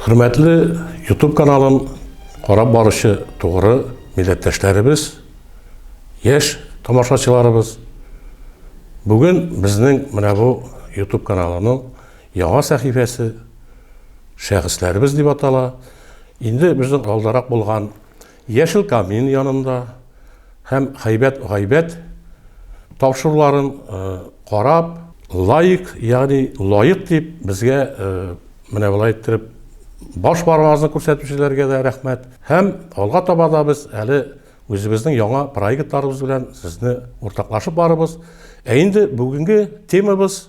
Хөрмәтле YouTube каналын карап баручы тугры милләттәшләребез, яшь тамашачыларыбыз. Бүген безнең менә бу YouTube каналының Яңа сәхифәсе Шәхесләребез дип атала. Инде безнең алдарак булган Яшел камин янында һәм Хәйбәт гайбәт тапшыруларын карап, лаек, ягъни лаек дип безгә менә болай иттереп баш бармагызны күрсәтүчеләргә дә рәхмәт. Һәм алга таба да без әле үзебезнең яңа проектларыбыз белән сезне уртаклашып барырбыз. Ә инде бүгенге темабыз,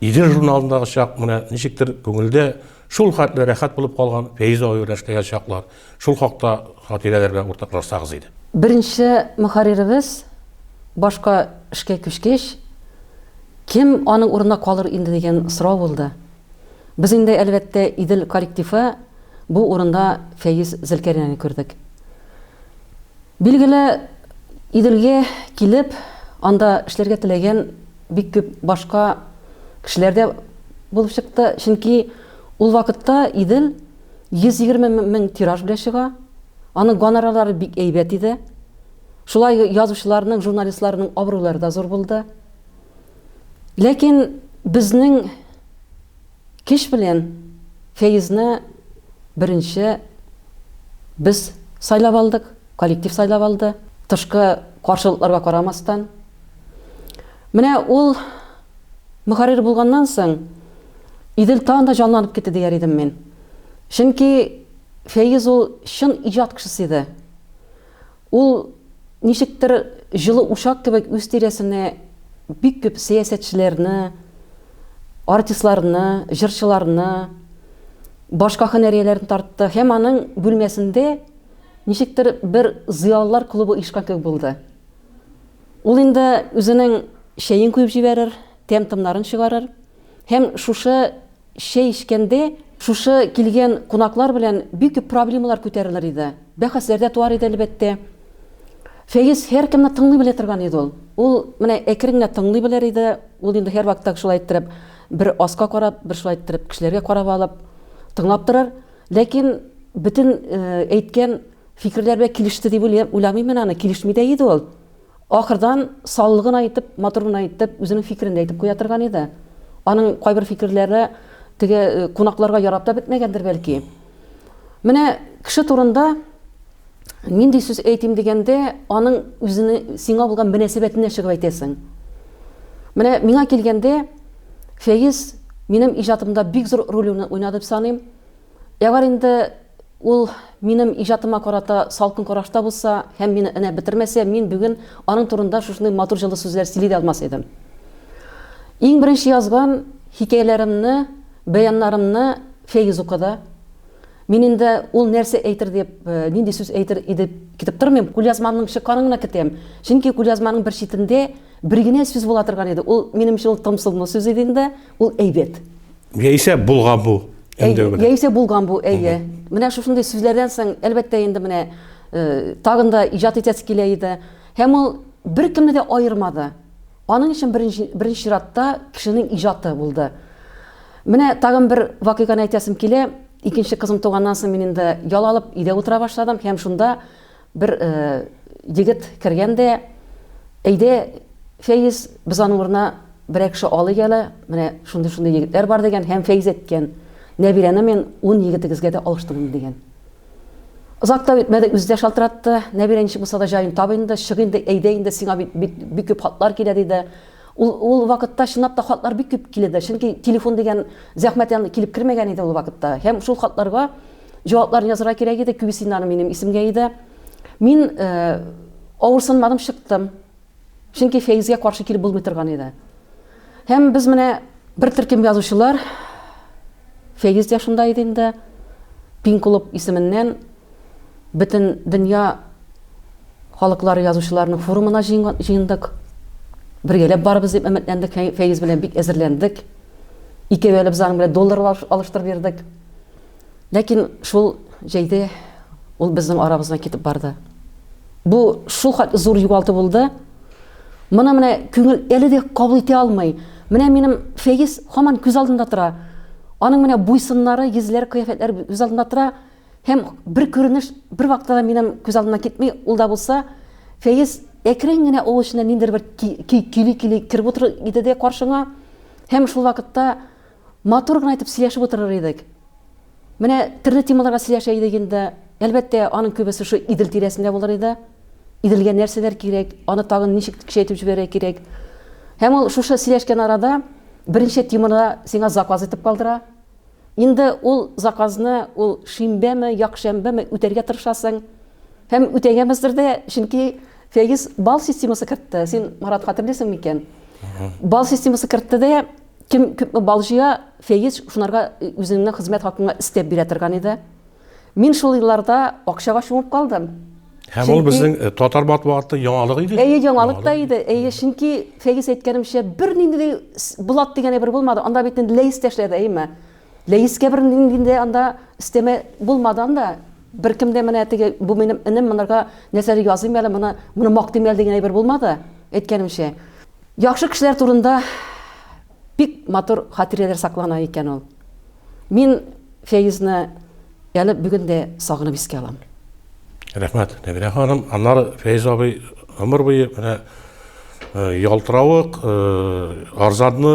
Идел журналындагы чак менә ничектер күңелдә шул хәтле рәхәт булып калган Фәйзә аю рәшкәгә чаклар. Шул хакта хатирәләр белән уртаклашсагыз иде. Беренче мөхәрриребез башка эшкә күчкәч, кем аның урынына калыр инде дигән сорау булды. Без инде, әлбәттә, Идел коллективы бу урында Фәиз Зөлкәринәне күрдек. Билгеле, Иделгә килеп, анда эшләргә теләгән Бик күп башка кешеләр дә булып чыкты, чөнки ул вакытта Идел 120 мең тираж белән чыга, аның гонорарлары бик әйбәт иде. Шулай язучыларның, журналистларның абруйлары да зур булды. Ләкин безнең. Кич белән Фәизне беренче без сайлап алдык, коллектив сайлап алды, тышкы каршылыкларга карамастан. Менә ул мөхәррир булганнан соң Идел тагын да җанланып китте дияр идем мин. Чөнки Фәиз ул чын иҗат кешесе иде. Ул ничектер җылы учак кебек үз тирәсенә бик күп сәясәтчеләрне, артистларны, җырчыларны, башка һөнәрияләрне тартты һәм аның бүлмәсендә ничектер бер зыялылар клубы оешкан кебек булды. Ул инде үзенең чәен куеп җибәрер, тәм-томнарын чыгарыр һәм шушы Чәй эчкәндә шушы килгән кунаклар белән бик күп проблемалар күтәрелер иде. Бәхәсләр дә туар иде, әлбәттә. Фәиз һәркемне тыңлый белә торган иде ул. Ул менә әкрен генә тыңлый белер иде. Ул инде һәрвакытта шулай иттереп, бер аска карап, бер шулай иттереп кешеләргә карап алып, тыңлап торыр. Ләкин бөтен әйткән фикерләр белән килеште дип уйламыйм мин аны, килешми дә иде ул. Ахырдан саллы гына итеп, матур гына итеп, үзенең фикерен дә әйтеп куя торган иде. Аның кайбер фикерләре теге кунакларга ярап та бетмәгәндер, бәлки. Менә кеше турында нинди сүз әйтим дигәндә, аның үзенең сиңа булган мөнәсәбәтенә чыгып әйтәсең. Менә миңа килгәндә, Фәиз минем иҗатымда бик зур роль уйнады дип саныйм. Әгәр инде Ул минем иҗатыма карата салкын карашта булса һәм мине энә бетермәсә, мин бүген аның турында шушындый матур җылы сүзләр сөйли дә алмас идем. Иң беренче язган хикәяләремне, бәяннарымны Фәиз укыды. Мин инде ул нәрсә әйтер дип, нинди сүз әйтер иде китеп тормыйм, кулъязмамның чыкканын гына көтәм. Чөнки кулъязманың бер читендә бер генә сүз була торган иде, ул минем өчен ул томсылмы сүз иде инде. Ул әйбәт. Яисә булган бу. Яисә булган бу, әйе. Менә шушындый сүзләрдән соң, әлбәттә, инде менә э, тагын да иҗат итәсе килә иде. Һәм ул беркемне дә аермады. Аның өчен беренче беренче чиратта кешенең иҗаты булды. Менә тагын бер вакыйганы әйтәсем килә. Икенче кызым туганнан соң мин инде ял алып, өйдә утыра башладым һәм шунда Бер егет кергән дә, Әйдә, Фәиз, без аның урынына берәр кеше алыйк әле, менә шундый-шундый егетләр бар, дигән һәм Фәиз әйткән, Нәбирәне мин ун егетегезгә дә алыштырдым, дигән. Озак та үтмәде, үзе дә шалтыратты, Нәбирә ничек булса да җаен таб инде, чык инде, әйдә инде, сиңа бит бик күп хатлар килә, диде. Ул ул вакытта чынлап та хатлар бик күп килде, чөнки телефон дигән зәхмәт янына килеп кермәгән иде ул вакытта. Һәм шул хатларга җавапларын язырга кирәк иде, күбесеннары минем исемгә иде. Мин э, авырсынмадым, чыктым. Чөнки Фәизгә каршы килеп булмый торган иде. Һәм без менә бер төркем язучылар Фәиз дә шунда иде инде. Пин клуб исеменнән бөтен дөнья халыклары язучыларының форумына җыендык. Бергәләп барыбыз дип өметләндек, Фәиз белән бик әзерләндек. Икәү әле без аның белән доллар алыштырып бирдек. Ләкин шул җәйдә ул безнең арабыздан китеп барды. Бу шул хәтле зур югалту булды. Моны менә күңел әле дә кабул итә алмый. Менә минем Фәиз һаман күз алдында тора. Аның менә буйсыннары, йөзләр, кыяфәтләр күз алдында тора. Һәм бер күренеш бер вакытта да минем күз алдымнан китми, ул да булса, Фәиз әкрен генә авыл эченә ниндер бер көй көйли-көйли кереп утыр иде дә каршыңа. Һәм шул вакытта матур гына итеп сөйләшеп утырыр идек. Менә төрле темаларга сөйләшә идек инде. Әлбәттә, аның күбесе шу Идел тирәсендә булыр иде. Иделгә нәрсәләр кирәк, аны тагын ничек көчәйтеп җибәрә кирәк. Һәм ул шушы сөйләшкән арада беренче теманы сиңа заказ итеп калдыра. Инде ул заказны ул шимбәме, якшәмбеме үтәргә тырышасың. Һәм үтәгәнбездер дә, чөнки Фәиз бал системасы кертте. Син, Марат, хәтерлисең микән? Бал системасы кертте дә, Кем күп бал җыя, Фәиз шунарга үзеңнең хезмәт хакыңа өстәп бирә торган иде. Мин шул елларда акчага чумып калдым. Һәм чөнки... ул безнең э, татар матбугатының яңалыгы иде. Әйе, яңалык та иде. Әйе, чөнки Фәиз әйткәнемчә, бернинди Булат дигәне бер булмады. Анда бит инде Ләис тәшләде, әйеме? Ләискә бернинди анда өстәмә булмады анда беркем дә менә теге бу минем энем монарга нәрсәдер языйм әле моны моны мактыйм әле дигән әйбер булмады әйткәнемчә Яхшы кешеләр турында бик матур хатирәләр саклана икән ул. Мин Фәйзне әле бүген дә сагынып искә алам. Рәхмәт, Нәбирә ханым. Аннары Фәйз абый гомер буе менә э, ялтыравык, э, арзанны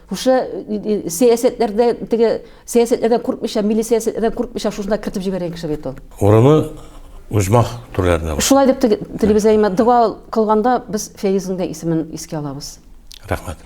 Шушы сәясәтләрдә теге сәясәтләрдән куркмыйча, милли сәясәтләрдән куркмыйча шушында кертеп җибәргән кеше бит ул. Урыны Узмах түрләренә бар. Шулай дип телибез әйме, дога кылганда без Фәйизның да исемен искә алабыз. Рәхмәт.